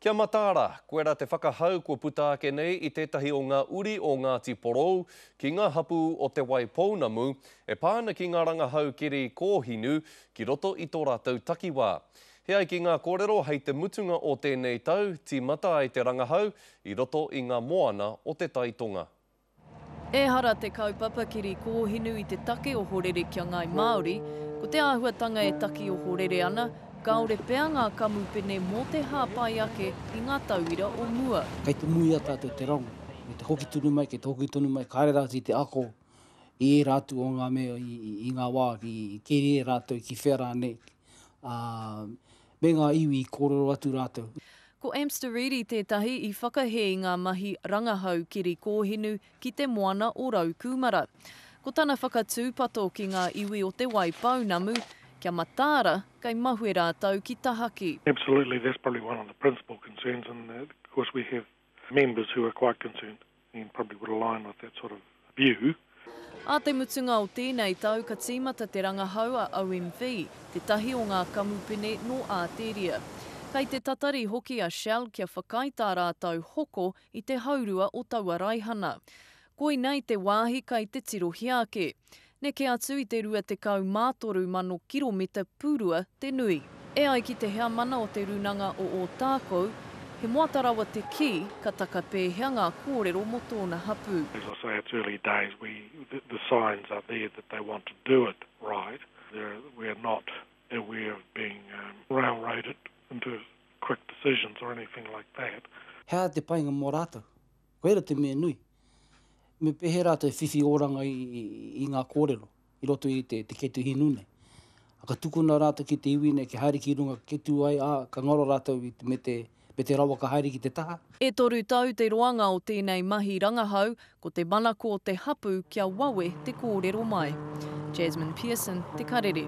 Kia mataara, koe ra te whakahau kua puta ake nei i tetahi o nga uri o Ngati Porou ki nga hapu o Te Waipounamu e pa ana ki nga rangahau keri kohinu ki roto i to ratou takiwa. He ai ki nga korero hei te mutunga o tenei tau timata ai te rangahau i roto i nga moana o te Tai Tonga. Ehara te kaupapa kiri kōhinu i te take o horere kia Ngāi Māori, ko te āhuatanga e taki ohorere ana, kāore pea ngā kamupene mō te hāpai ake i ngā tauira o mua. Kei te muia tātou te rango, kei te hoki tonu mai, kei te hoki tonu mai, kāre rātou i te ako i ērā atu o ngā mea i ngā wā i keria e rātou ki whea rānei, ā, me ngā iwi i kōrero atu rātou. Ko Amster Reedy tētahi i whakahē i ngā mahi rangahau keri kōhinu ki Te Moana o Raukūmara. Ko tana whakatūpato ki ngā iwi o Te Wai Pounamu, kia mataara kei mahue rātou ki tahaki. Absolutely, that's probably one of the principal concerns in that, of course, we have Members who are quite concerned and probably would align with that sort of view. Ā te mutunga o tēnei tau ka tīmata te rangahau a OMV, tētahi o ngā kamupene nō Āteria. Kei te tatari hoki a Shell kia whakaae tā rātou hoko i te haurua o taua raihana. Koinei te wāhi kei te tirohia ake. Neke atu i te 23 mano kiromita pūrua te nui. E ai ki te Heamana o Te Rūnanga o Ōtākou, he moata rawa te kī, ka taka pēhea ngā kōrero mō tōna hapū. As I say, it's early days, we, the, the signs are there that they want to do it right, there, we are not aware of being railroaded into quick decisions or anything like that. He aha te painga mō rātou? Koira te mea nui. Me pēhea rā te whiwhi oranga i ngā kōrero i roto i te kete hinu nei. Ka tukuna rātou ki te iwi nei kia haere ki runga kia tū ai, ā, ka ngaro rātou me te rawa ka haere ki te taha. E toru tau te roanga o tēnei mahi rangahau, ko te manako o te hapū kia wawe te kōrero mai. Jasmine Pearson, Te Karere.